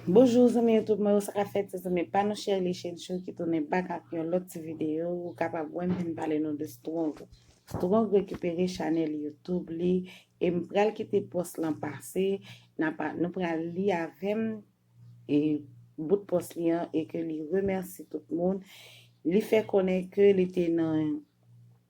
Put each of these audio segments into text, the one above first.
Bonjour zanmi youtube mwen yo sa kap fèt se zanmi pa nou Sherley Chencho ki tounen bak ak yon lòt ti video ou kapab wèm vin pale nou de Strong Strong rekipere chanèl youtube li e m pral kite pòs lan pase nap nou pral li avèm e bout pòs li an e ke li remèsi tout moun li fè konnen ke li te nan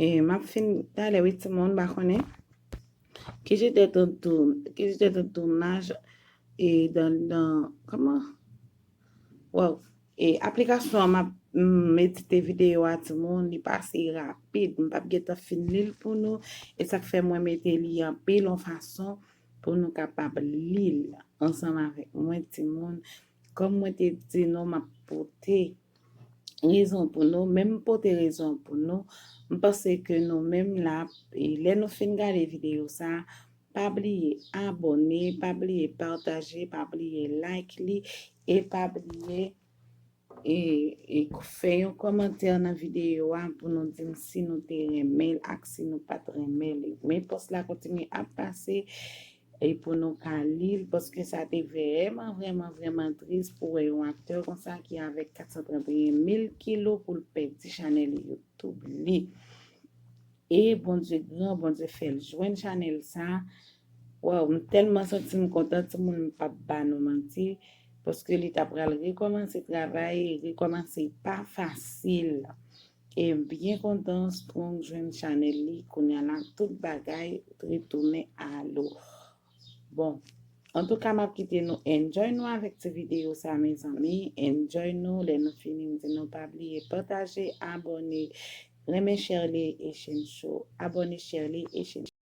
E map fin pale wi ti moun ba konnen. Ki jete tout doum, ki jete tout doumaj e dan dan kama? Wow, e aplikasyon an map medite video a ti moun, li pase rapid, m pap gen tan fin li l pou nou e sak fè mwen mete li anpil yon fason pou nou kapab li l ansanm avèk mwen ti moun. Kòm mwen te di nou map pote rezon pou nou, men m pote rezon pou nou, m panse ke nou menm la, e lè nou fin gade videyo sa, pa bliye abòne, pa bliye pataje, pa bliye like li, e pa bliye e e fè yon kòmantè nan videyo a pou nou di m si nou te renmen l ak si nou pat renmen li. Men pòs la kontinye ap pase E pou nou pa lil paske sa te vrèman vrèman vrèman tris pou wè yon aktè konsa ki avèk 431 mil kilo poul pèdi chanèl youtub li e Bondye gran Bondye fèl jwenn chanèl sa waw m tèlman santim kontan timoun m pap ba nou manti paske li ta pral rekòmanse travay rekòmanse pa fasil. E m byen kontan Strong jwenn chanèl li kounya la tout bagay retounen a lo bon antouka map kite nou enjoy nou avèk ti videyo sa mezanmi enjoy nou lè nou fini m di nou pa bliye pataje abòne renmen Sherley Echencho abòne Sherley Echencho.